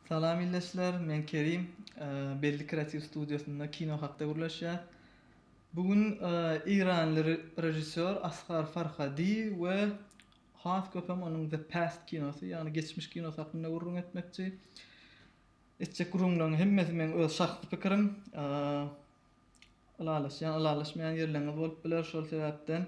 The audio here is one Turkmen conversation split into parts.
Salam ildeşler, men Kerim. Belli kreatiw studiýasynda kino hakda gürleşýäs. Bu gün eýranly režissýor Asgar Farhadi we has köp hem onuň The Past kinosy, ýagny Geçmiş kinosy hakynda gürrüň etmekçi. Etjek gürrüňleriň hemmesi meň öz şahsy pikirim. Ylalaşýan, ylalaşmaýan ýerleriňiz bolup biler, şol sebäpden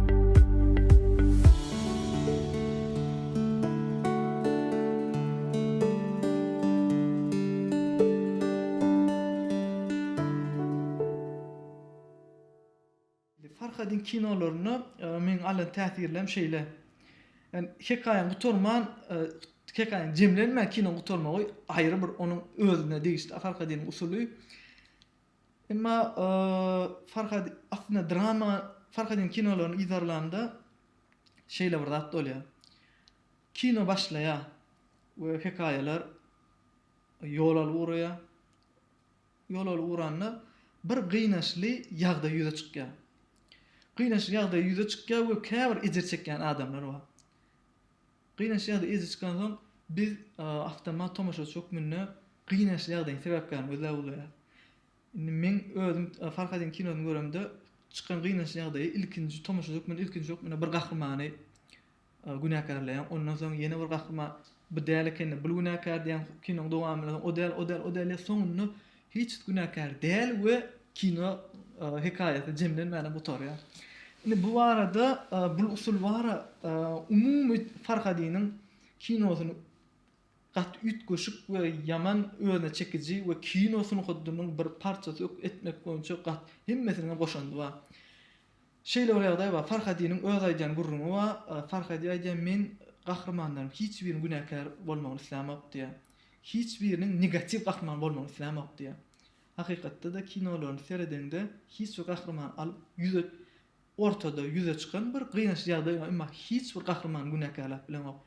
Farhadyň kinolarynda meniň alan täsirlerim şeýle. Yani hekaýaň gutarman, e, hekaýaň jemlenmän kinoň gutarmagy aýry bir onuň özüne degişli Farhadynyň usuly. Emma Farhad aslynda drama Farhadyň kinolaryny yzarlanda şeýle bir zat bolýar. Kino başlaýar we hekaýalar ýol alyp ugraýar. Ýol alyp ugranda bir gynaçly ýagdaý ýüze çykýar. Gynaçly ýagdaý ýüze çykýar we käbir ejir çekýän adamlar bar. Gynançly ýagdaý ýüze çykansoň, biz awtomat tomaşaçy hökmünde gynançly ýagdaýyň sebäpkärini gözläp ugraýarys. Indi meň özüm Farhadyň kinosyny göremde çykan gynançly ýagdaýy ilkinji tomaşaçy hökmünde ilkinji hökmünde bir gahrymany günäkärleýän, ondan soň ýene bir gahryman bu däl ekeni, bul günäkär diýýän kinonyň dowamynda o däl, o däl, o däl diýýän soňunda Hiç günäkär däl we kino hekaýasy jemlenmäne gutarýar. Indi bu barada bul usul bara umumy Farhadynyň kinosyny gaty üýtgeşik we ýaman özüne çekiji we kino sungatynyň bir parçasy etmek boýunça gat hemmesiniň hem goşandy bar. Şeýle bir ýagdaý bar. Farhadynyň öz aýdýan gürrüňi bar. Farhady aýdýar, Men gahrymanlaryň hiç biriniň günäkär bolmagyny islämok diýýär. Hiç biriniň negatiw gahryman bolmagyny islämok diýýär. Hakykatda-da kinolaryny seredeňde hiç bir gahrymany alyp ýüze ortada ýüze çykan bir gynançly ýagdaý bar. Emma hiç bir gahrymany günäkärläp bileňok.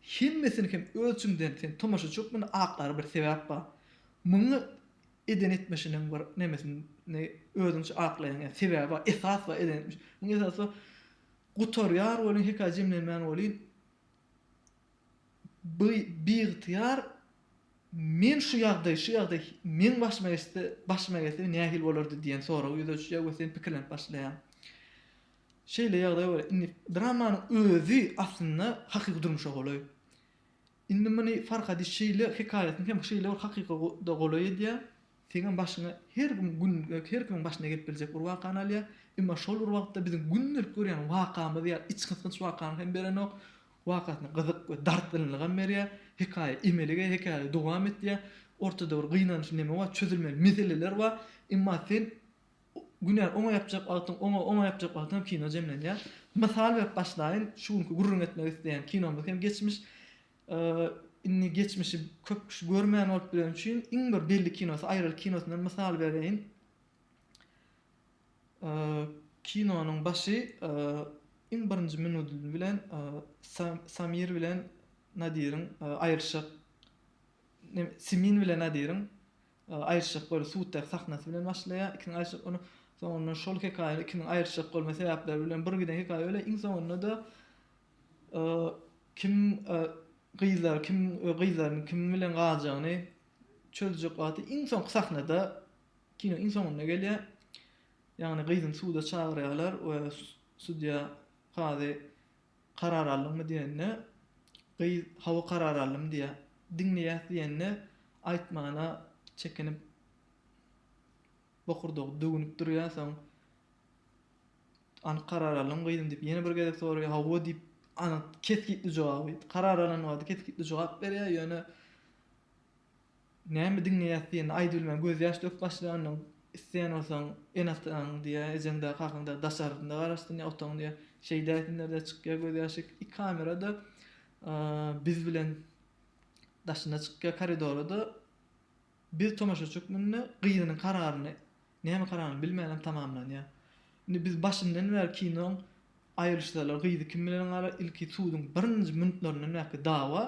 Hemmesini hem öz içiňden sen tomaşaçy hökmünde aklar bir sebäp bar. Muňa eden etmişiniň bir nemesini özüňçe aklaýaň ýa sebäbi bar esas bar eden etmiş muňa esas bar gutarýar welin hekaýa jemlenmän welin bi biygtyýar men şu ýagdaý şu ýagdaý meň başyma geçse başyma gelse nähili bolardy diýen sorag ýüze çyjar we sen pikirlenip başlaýaň şeýle ýagdaý bar indi dramanyň özi aslynda hakyky durmuşa golaý. Indi muny Farhady şeýle hekaýasyny hem şeýle bir hakyka-da golaý edýär, Seňem başyňa her gün gün her kimiň başyna gelip biljek bir wakany alýar. Emma şol bir wagtda biziň gündelik görýän wakamyz ýaly içgysgynç wakany hem berenok. Wakasyna gyzyk we dartgynlygam berýär. Hekaýa emelege, hekaýa dowam etýär. Ortada bir gynanç neme bar, çözülmeli meseleler bar. Emma sen günäni oňa ýapjak wagtyň, oňa oňa ýapjak wagtyň hem kino jemlenýär. Mysal berip başlaýyn, şu günki gürrüň etmek isleýän kinomyz hem geçmiş. Indi geçmişi köp kişi görmän bolup bileni üçin iň bir belli kinosy Aýralyk kinosyndan mysal bereýin. Kinonyň başy iň birinji minudy bilen Samir bilen Nadiriň aýrylyşyk Simin bilen Nadiriň Aýryşjak bölüp suddaky sahnasy bilen başlaýar, ikiniň aýryşjak boluny soňundan şol hekaýany ikiniň aýryşjak bolma sebäpleri bilen bir giden hekaýa bölýär, iň soňunda-da kim gyzlar kim gyzlaryň kim bilen galjagyny çözjek wagty iň soňky sahnada kino iň soňunda gelýär. Ýagny gyzyny suda çagyrýarlar we sudýa kazy Karar aldyňmy diýende, gyz Hawa karar aldym diýýär. Diňleýäs diýende, aýtmana çekinip bokurdagy döwünip durýar, soň Anyk karar aldyňmy gyzym diýip ýene bir gezek soraýar, Hawa diýip anyk kesgitli jogaby, karar alan wagty kesgitli jogap berýär, ýöne Näme diňleýäs diýende aýdy bilmän gözýaş döküp başlanyň, isleýän bolsaň enataň diýýär, ejeňdä, kakaňda daşarynda garaşsyn ýa otagyň diýýär. Şeýdäýsinler-de çykýar gözýaşyk. I kamera-da biz bilen daşyna çykýar koridora-da biz tomaşaçy hökmünde gyzynyň kararyny Näme karanly bilmänläň tamamlanýa. Indi biz başyndan bäri kinoň aýylyşsalar gyzy kim bilen galar ilki suduň birinji munitlaryndan bäki dawa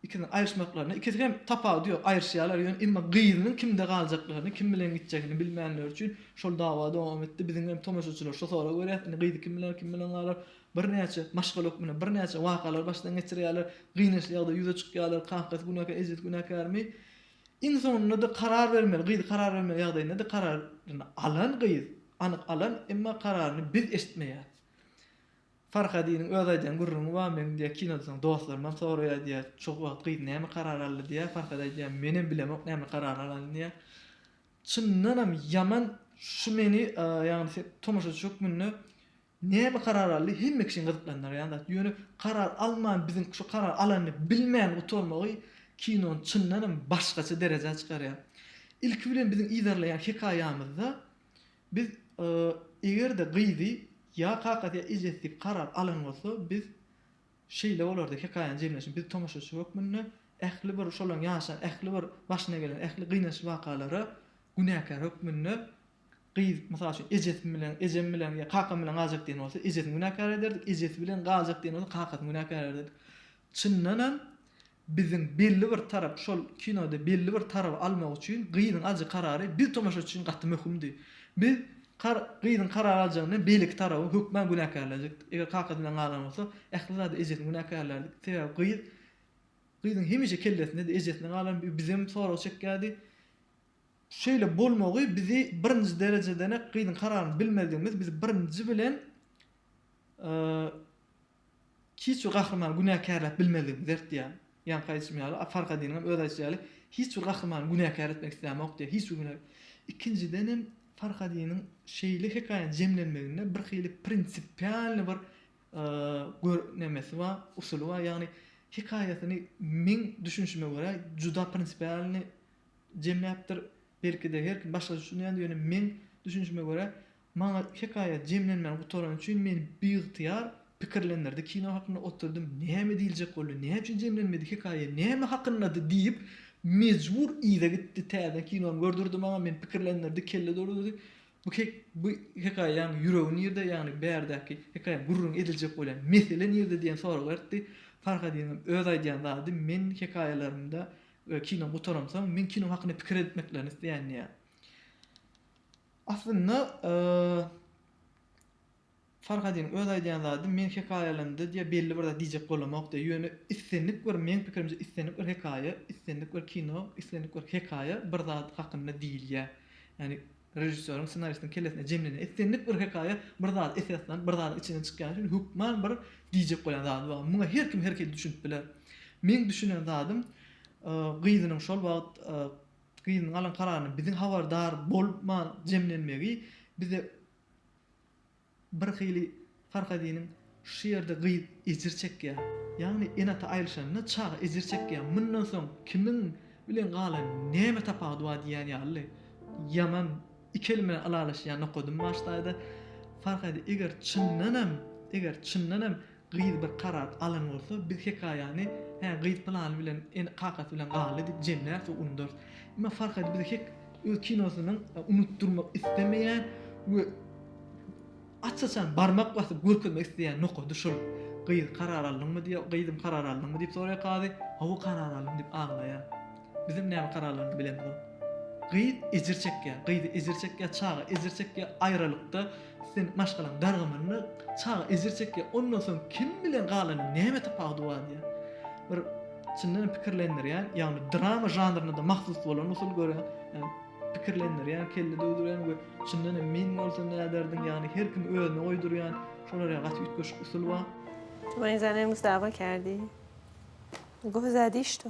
ikisiniň aýylyşmaklaryna ikisi hem tapawudy ýok aýyryşýalar ýöne emma gyzynyň kimde galjaklaryny kim bilen gitjegini bilmänleri üçin şol dawa dowam etdi biziň hem tomaşaçylar şo sora görýäs indi gyzy kim biler kim bilen galar birnäçe maşgala hökmünde birnäçe wakalary başdan geçirýäler gynançly ýagdaý ýüze çykýalar kakasy günäkär ejesi günäkärmi Iň soňunda-da karar bermeli gyz karar bermeli ýagdaýynda-da kararyny alan gyz, anyk alan, emma kararyny biz eşitmeýäris. Farhadynyň öz aýdýan gürrüňi bar, meň diýýär kinodan soň dostlarymdan soraýar diýýär, şo wagt gyz näme karar aldy diýýär, Farhady aýdýar menem bilemok näme karar alanyn diýýär. Çyndanam ýaman şu meni ýagny tomaşaçy hökmünde Näme karar aldy hemme kişini gyzyklandyrýan zat ýöne karar alman biziň şu karar alanyny bilmän gutarmagy kinony çyndanam başgaça derejä çykarýar. Ilki bilen biziň yzarlaýan hekaýamyzda biz egerde gyzy ýa kakasy ýa ejesi diýip karar alan bolsa biz şeýle bolardy hekaýanyň jemlenişi biz tomaşaçy hökmünde ähli bir şolaryň ýaşan ähli bir başyna gelen ähli gynançly wakalara günäkär hökmünde Gyz, mysal üçin, ejesi bilen, ejem bilen ýa kakam bilen galjak diýen bolsa, ejesini günäkär ederdik, ejesi bilen galjak diýen bolsa, kakasyny günäkär ederdik. Çyndan hem, biziň belli bir tarap, şol kinoda belli bir taraby almak üçin gyzyň aljak karary biz tomaşaçy üçin gaty möhümdi. Biz kar gyzyň karar aljagyndan beýleki taraby hökman günäkärlejekdik. Eger kakasy bilen galan bolsa, ähli zada ejesini günäkärlärdik. Sebäbi gyz, gyzyň hemişe kellesinde-de ejesine galan, bi bizem sorag çekýärdi. Şeýle bolmagy bizi birinji derejedenek gyzyň kararyny bilmezligimiz bizi birinji bilen hiç bir gahrymany günäkärläp bilmezligimizi dertýär. Ýaňky aýdyşym ýaly, a Farkadynyň hem öz aýdyşy ýaly, hiç bir gahrymany günäkär etmek islämok diýýär. Hiç bir günä. Ikinjiden hem Farkadynyň şeýle hekaýany jemlenmeginde bir hili prinsipialny bir gör nemesi bar, usuly bar. Ýagny hekaýasyny meň düşünişime görä juda prinsipialny jemläpdir. Belki-de, her kim başgaça düşünýändir, ýöne meň düşünişime görä, maňa hekaýa jemlenmäni gutarany üçin meni biygtyýar pikirlendirdi. Kino hakynda oturdym, näme diýiljek boldy, näme üçin jemlenmedi, hekaýa näme hakyndady diýip, mejbur yza gitdi. Täzeden kinony gördürdi maňa, meni pikirlendirdi, kelle doldurdy. Bu he bu hekaýaň ýüregi nirde, ýagny bärdäki hekaýa gürrüň ediljek bolýan mesele nirde diýen sorag bertdi. Farhadynyň öz aýdýan zady, men hekaýalarymda We kino gutaransoň men kino hakynda pikir etmeklerini isleýän diýýär. Aslynda Farhadyň öz aýdýan zady men hekaýalarymda diýýär belli bir zat diýjek bolamok diýýär. Ýöne islendik bir meň pikirimçe islendik bir hekaýa, islendik bir kino, islendik bir hekaýa bir zat hakynda diýilýär. Ýagny Režissýoryň, ssenaristiň kellesinde jemlenen islendik bir hekaýa bir zada esaslanyp, bir zadyň içinden çykýany üçin hökman bir diýjek bolýan zady bar. Muňa her kim her hili düşünip biler. Meň düşünen zadym, gyzynyň şol wagt gyzynyň alan kararynyň biziň habardar bolman jemlenmegi bize. Bir hili Farhadynyň Şu ýerde gyz ejir çekýär. Ýagny ene-ata aýrylyşanda çaga ejir çekýär. Mundan soň kimiň bilen galan, näme tapawudy bar diýýän ýaly. Ýaman iki elim bilen ylalaşýan nokadym başdaýda. Farhady eger çyndanam, eger çyndanam Gyz bir karar alan bolsa, biz hekaýany Hä, gyz pylany bilen ene, kakasy bilen galdy diýip jemläris we undarys. Emma Farhady bize hek öz kinosynyň unutdyrmak islemeýän we aç-açan barmak basyp görkezmek isleýän nokady şol. Gyz, karar aldyňmy diýýär, gyzym karar aldyňmy diýip soraýar kazy, Hawa karar aldym diýip aglaýar. Bizem näme kararlaryny bilemzok. Gyz ejir çekýär, gyz ejir çekýär, çaga ejir çekýär, aýralykda sen maşgalaň dargamanyny, çaga ejir çekýär, ondan soň kim bilen galanyň näme tapawudy bar diýýär. Bir çyndanam pikirlendirýän, ýagny drama žanryna-da mahsus bolan usul görýän, ýagny pikirlendirýän, kelle döwdürýän we çyndanam men bolsam näderdim, ýagny her kimi özüne goýdurýan, şolar ýa gaty üýtgeşik usul bar. Tuwanyzany öňüňizde abakerdi. Gowy zadi ştu.